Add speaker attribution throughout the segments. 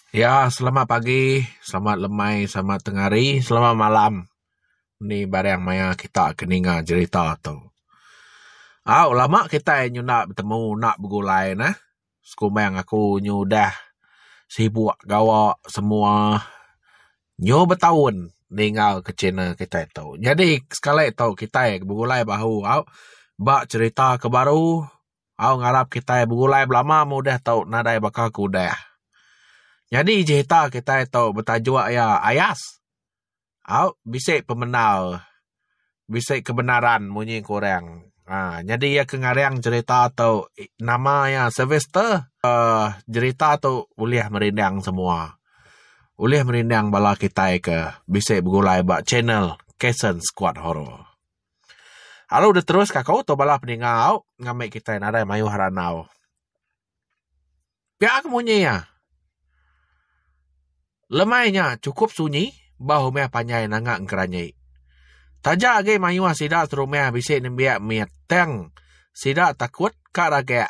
Speaker 1: Ya selamat pagi selamat lemai selamat tengah hari selamat malam eni barang maya kita ke ninga jerita tu. Au lama kitai nyenda betemu enda begulai neh sekumbang aku nyu udah sibuk gawa semua nyu betaun ninga ke channel kitai tu. Nyadi sekali tu kitai begulai bahu au ba cherita ke baru au ngarap kitai begulai belama meh udah tu nadai baka ke udah. Nyadi cerita kitai tu betajuk iya Ayas. Au bisi pemendar bisi kebenaran munyi ku orang. Aa nyadi iya ke ngarang cerita tu nama iya Sylvester aaa cerita tu ulih merindang semua. Ulih merindang bala kitai ke bisi begulai ba channel Kaysens Squad Horror. Alu deh terus ka aku tu bala peningau ngambi kitai nadai mayuh randau. Pia ke munyi iya. Lemai nya chukup sunyi bah rumah panjai nanga ngeranyi. Taja agi mayuh sida serumah bisi nembiak mit tang sida takut ka ragak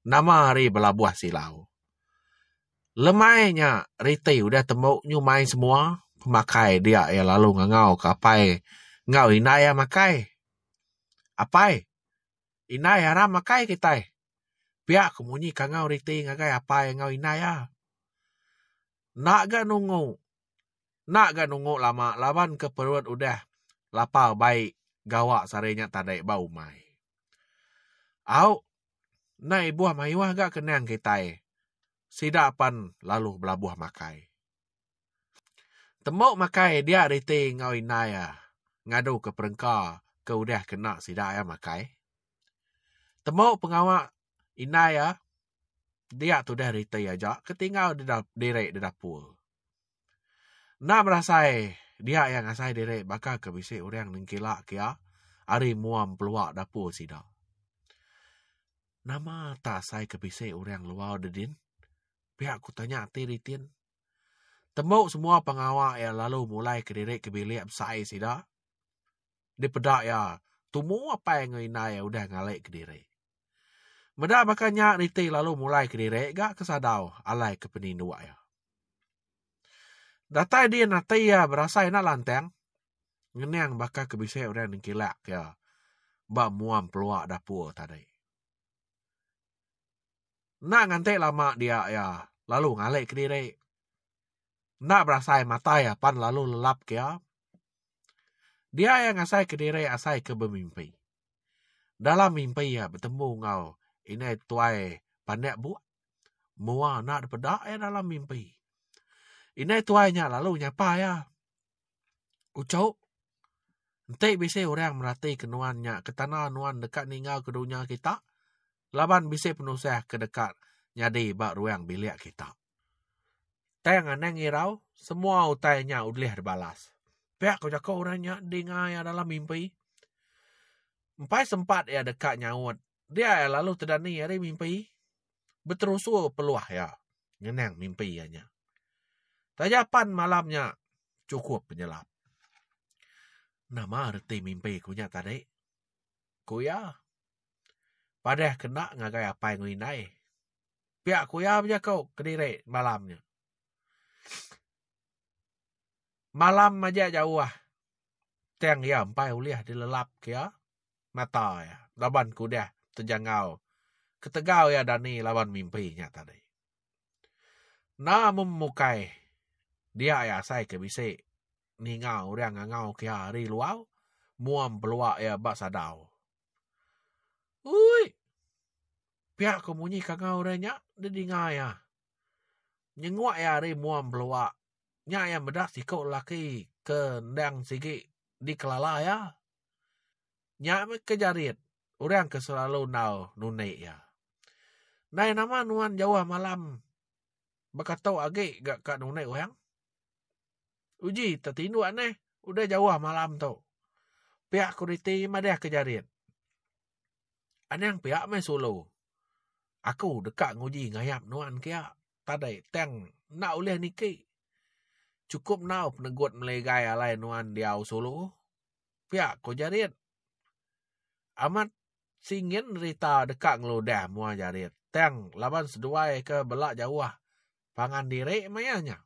Speaker 1: nama hari belabuh silau. Lemai nya reti udah tembu nyumai semua pemakai dia iya lalu ngangau ke apai enggau indai iya makai. Apai, indai aram makai kitai. Pia ku munyi kangau reti ngagai apai enggau indai iya. Enda ga nunggu, enda ga nunggu lama laban ke perut udah lapar baik gawa sehari nya tadi ba umai. Au Endai ibuh mayuh ga ke nang kitai. Sida pen lalu belabuh makai. Tembu makai dia reti enggau indai iya ngadu ke perengka ke udah kena sida iya makai. Tembu pengawa indai iya dia tudah reti aja ke tinggal dida diri di dapur. Enda berasai dia iya ngasai diri baka ke bisi orang nengkila ke iya ari mua mepelua dapur sida. Nama tak asai ke bisi orang luar deh din? Pia ku tanya ti ditin. Tembu semua pengawa iya lalu mulai ke diri ke bilik besai sida. Dipeda iya tumu apai enggau indai iya udah ngalai ke diri. Meda baka nya Niti lalu mulai kediri ga ke sadau alai ke peninduk iya. Datai din ati iya berasai enda lantang ngening baka ke bisi orang nengkilak iya ba muam pelua dapur tadi. Enda nganti lama dia iya lalu ngalik kediri. Enda berasai matai iya pan lalu lelap ke iya. Dia iya ngasai kediri asai ke bemimpi. Dalam mimpi iya betemu enggau indai tuai pandak buk mua anak da peda iya dalam mimpi. Indai tuai nya lalu nyapa iya. Uchu enti bisi orang meratika nuan nya ke tanda nuan deka ninga ke dunya kita laban bisi penusah ke deka nyadi ba ruang bilik kita. Tang anang irau semua utai nya ulih dibalas. Pia ko jako orang nya dinga iya dalam mimpi. Empai sempat iya deka nyaut dia iya lalu tedani ari mimpi. Beterusu peluah iya ngenang mimpi iya nya. Taja pan malam nya chukup penyelap. Nama reti mimpi ku nya tadi? Ku iya. Padah kena ngagai apai enggau indai. Pia ku iya bejaku kediri malam nya. Malam majak jauh tang iya empai ulih dilelap ke iya mata iya laban ke udah tejangau ketegal iya dani laban mimpi nya tadi. Enda mung mukai dia iya asai ke bisi ninga orang ngangau ke iya ari luar muang pelua iya ba sadau. Uii! Pia ko munyi kangau re nya de dinga iya. Nyenguk iya ari mua empelua. Nya iya meda siko lelaki ke endang sigi di kelala iya. Nya meh ke Jarit orang ke selalu endau nundi iya. Ndai nama nuan jauh malam bekato agi ga ka nundi orang? Uji tetinduk neh udah jauh malam tu. Piak kuriti madah ke jarit. Anang piak meh sulu. Aku deka nguji ngayap nuan kiak tadai tang enda ulih niki. Chukup enggau penegut melegai alai nuan diau sulu. Piak ko jarit. Amat singin rita deka ngeludah mua jarit tang laban seduai ke bela jauh pangan diri maya nya.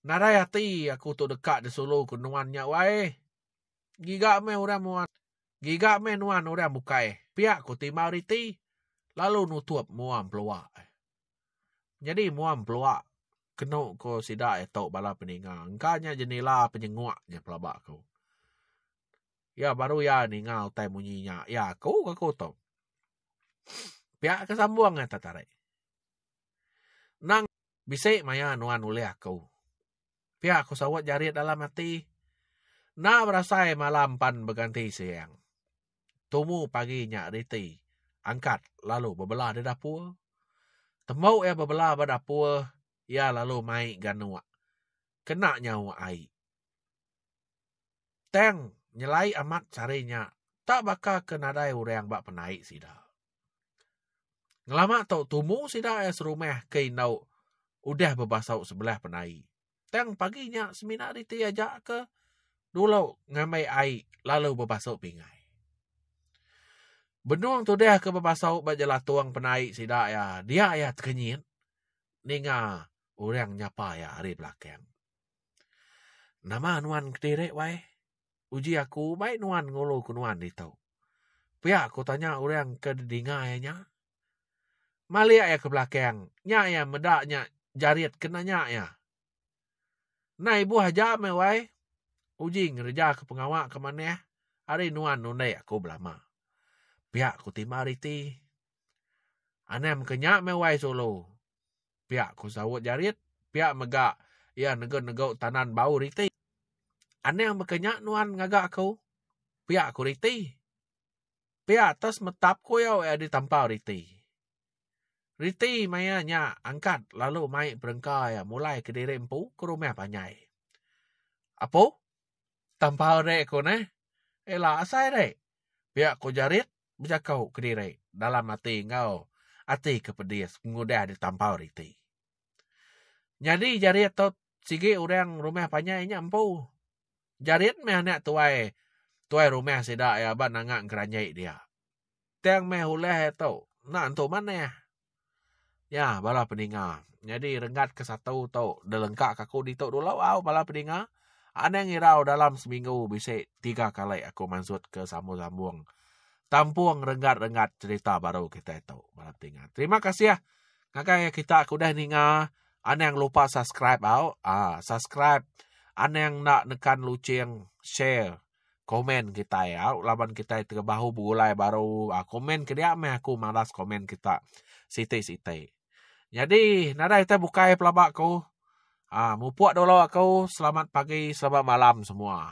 Speaker 1: Nadai ati aku tu deka disulu ku nuan nya wai. Giga meh orang muan giga meh nuan orang bukai pia ku Timau riti lalu nutup mua empelua. Nyadi mua empelua kenu ku sida iya tu bala peninga engka nya jenila penyenguk nya pelaba aku. Iya baru iya ninga utai munyi nya iya aku ke aku tu. Pia ke sambung ai tetarik. Endang bisi maya nuan nulih aku. Pia aku saut jarit dalam ati. Enda berasai malam pan beganti siang. Tumu pagi nya riti angkat lalu bebelah di dapur. Tembu iya bebelah ba dapur iya lalu mai ganuk kena nyauk ai. Tang nyelai amat sehari nya tak baka ke nadai orang ba penai sida. Ngelama tu tumu sida iya serumah ke indau udah bebasau sebelah penai. Tang pagi nya semina riti aja ke dulu ngambai ai lalu bebasau pingai. Benung tudah ke bebasau ba jelatung penai sida iya, dia iya tekenyit ninga orang nyapa iya ari belakang. Nama nuan kediri wai? Uji aku baik nuan ngulu ke nuan ditu. Pia aku tanya orang ke didinga iya nya. Malik iya ke belakang, nya iya meda nya Jarit ke nanya iya. Nah ibuh aja meh wai. Uji ngereja ke pengawa ke manah ari nuan nundai aku belama. Pia aku timba reti. Anang mega nya meh wai sulu. Pia ku saut Jarit pia mega iya negu-negu tanan bau riti. Anang mega nya nuan ngaga aku, pia ku riti. Pia atas metap kuyau iya ditampau riti. Riti maya nya angkat lalu mai perengka iya mulai kediri empu ke rumah panjai. Apo? Tampau ri ku neh. Ila asai ri? pia ku Jarit bejaku kediri dalam ati enggau ati ke pedis pengudah ditampau riti. Nyadi jarit tu sigi orang rumah panjai nya empu. Jarit meh anak tuai tuai rumah sida iya ba nanga ngeranjai dia. Tang meh ulah iya tu enda nentu manah Nya bala peninga. Nyadi renggat ke satu tu delengka ke aku ditu dulu au bala peninga. Anang irau dalam seminggu bisi tiga kali aku mansut ke sambung-sambung tampung renggat-renggat cerita baru kitai tu bala peninga. Terima kasih ngagai iya kita ke udah ninga. Anang lupa subscribe au. Aa subscribe. Anang enda nekan luching share. Komen kitai au laban kitai terebahu begulai baru aaa komen ke dia meh aku malas komen kita siti siti. Nyadi nadai kita bukai pelaba ku aaa mupok dulu aku selamat pagi selamat malam semua.